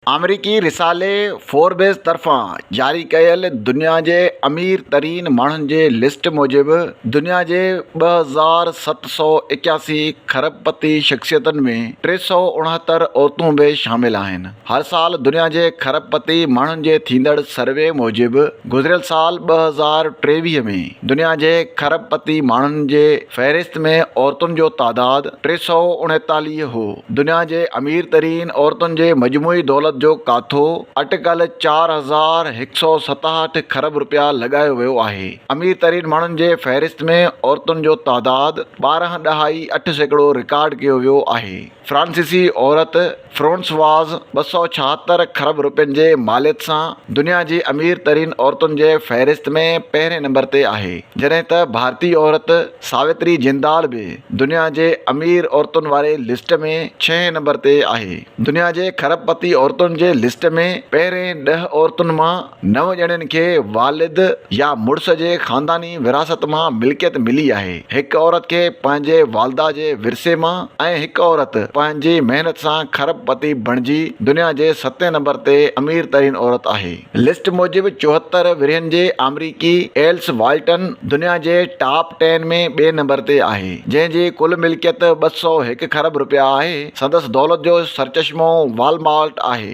آمريڪي رسالي فوربز طرفان جاري ڪيل دنيا جي امير ترين ماڻهن جي لسٽ موجب دنيا جي ٻه هزار ست سؤ ايڪياسي کرب پتي شخصيتن ۾ ٽي سؤ اڻهتر عورتون به شامل آهن هر سال دنيا جي کرب پتي ماڻهن جي ٿيندڙ سروي موجب گذريل سال ٻه هزار ٽيويهه ۾ دنيا جي کرب پتي ماڻهن جي فهرست ۾ عورتن جو تعداد ٽي سؤ اڻيتاليهه هو. دنيا جي امير ترين عورتن جي مجموعي دولت جو ڪاٿو اٽڪل چار هزار هڪ سؤ ستاهٺ کرب رپيا لڳايو ويو آهي. امير ترين ماڻهن جي فهرست ۾ عورتن جو تعداد ٻارهن ڏهائي اٺ سيڪڙو رڪارڊ ڪيو ويو آهي. فرانسيسي عورت فرونسواز ٻه سؤ ڇاهتر خرب روپين جي ماليت سان دنيا جي امير ترين عورتن جي فهرست ۾ پهرين نمبر تي آهي جڏهن ته ڀارتي عورت ساوتري جندال به دنيا جي امير عورتن واري لسٽ ۾ ڇهين نمبر تي آهي دنيا جي خرب پتي عورتن جي لسٽ ۾ پهرين ڏهه عورتن مان نو ڄڻين کي والد يا مڙس جي خانداني ورهاست مان ملڪيت ملي آهي. هڪ عورت کي پنهنجي والده جي ورثي مان ۽ هڪ عورت پنهنجي محنت سان کرب پتي بڻجي دنيا جي ستين نمبر تي امير ترين عورت آهي. لسٽ موجب چوهتر ورهين جي آمريڪي ايلس والٽن دنيا جي ٽاپ ٽين ۾ ٻئي نمبر تي آهي جنهن جي ڪل ملڪيت ٻه سؤ هڪ کرب رپيا آهي. سندس دولت جو سرچشمو والمارٽ آهي.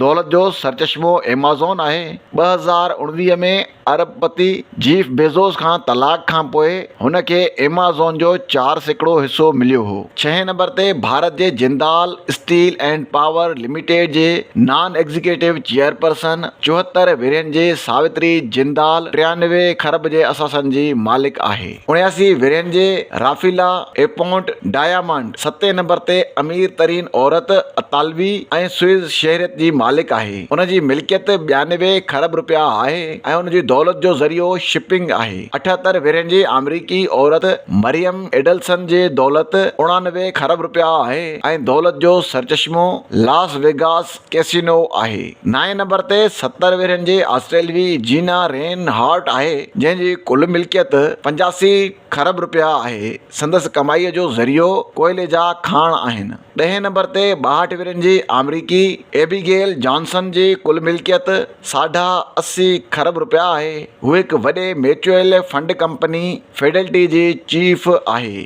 دولت جو سرچشمو ايمازون آهي. ٻه هزار اڻويهه ۾ ارب پتي جيف بيزوس کان طلاق کانپوء هن کي ايمازون جو چار سيڪڙو حصو مليو هو. ڇهين نمبر تي ڀارت جي Jindal steel and power limited جي نان ايگزيڪيٽو چيئرپرسن چوهتر ورهين جي ساوتري جندال ٽيانوي کرب جي اثاثن جي مالڪ آهي. اڻياسي ورهين جي رافيلا ايپونٽ ڊائيامنڊ ستين نمبر تي امير ترين عورت اطالوي ۽ سوئز شهريت جي مالڪ آهي. ان جي ملڪيت ٻيانوي کرب روپيا آهي ۽ ان جي دولت جو ذريعو شپنگ آهي. اٺهتر ورهين جي آمريڪي عورت مريم ايڊلسن جي دولت اڻانوي کرب روپيا آهي ۽ دولت جو سرچشمو لاس ويگاس ڪيسينو آهي. نائين نمبر تي ستر ورهين جي آسٽريلوي جينا رين هارٽ آهي، جنهن جي ڪل ملڪيت پنجاسي کرب رپيا آهي. سندس ڪمائيء جو ذريعو ڪوئلي جا کاڻ آهن. ڏهين نمبر تي ٻاهٺ ورهين جي آمريڪي ايبيگيل جانسن جي ڪل ملڪيت ساڍا اسي کرب رپيا آهي. هوهڪ وڏي ميچوئل فنڊ ڪمپني فيڊلٽي جي چيف آهي.